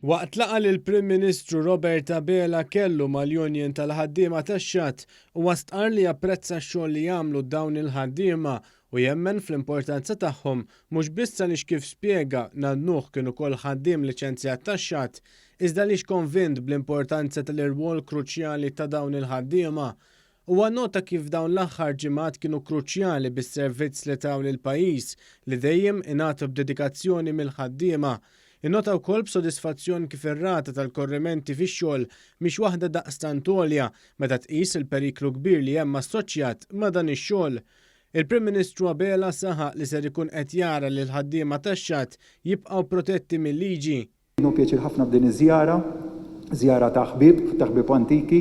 Waqt laqgħa li l-Prim Ministru Robert Abela kellu mal-Union tal-Ħaddiema tax-Xatt, huwa stqarr li japprezza x-xogħol li jagħmlu dawn il-ħaddiema u jemmen fl-importanza tagħhom mhux biss għaliex kif spjega Nan Nuħ kien ukoll ħaddiem liċenzjat tax-Xatt iżda għaliex konvint bl-importanza tal-irwol kruċjali ta' dawn il-ħaddiema Huwa nnota kif dawn l-aħħar ġimgħat kienu kruċjali bis-servizz li taw lill-pajjiż, li dejjem ingħatu b'dedikazzjoni mill-ħaddiema. Innota wkoll b'sodisfazzjon kif ir-rata tal-korrimenti fix-xogħol mhix waħda daqstant għolja meta tqis il-periklu kbir li hemm assoċjat ma' dan ix-xogħol. Il-Prim Ministru Abela saħaq li ser ikun qed jara li l-ħaddiema tax-xatt jibqgħu protetti mil-liġi. Hu pjaċir ħafna b'din iż-żjara, żjara ta' ħbieb, ta' ħbieb antiki,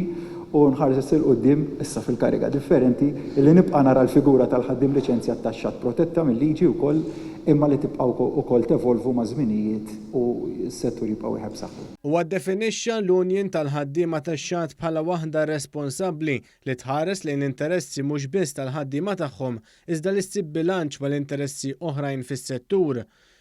u nħares 'il quddiem, issa fil-kariga differenti, li nibqa' nara l-figura tal-ħaddiem liċenzjat tax-xatt protetta mil-liġi wkoll, imma li tibqa' wkoll tevolvu maż-żminijiet u s-settur jibqa' wieħed b'saħħtu. Huwa ddefinixxa l-Union tal-Ħaddiema tax-Xatt bħala waħda responsabbli li tħares lejn l-interessi mhux biss tal-ħaddiema tagħhom iżda li ssib bilanċ mal-interessi oħrajn fis-settur.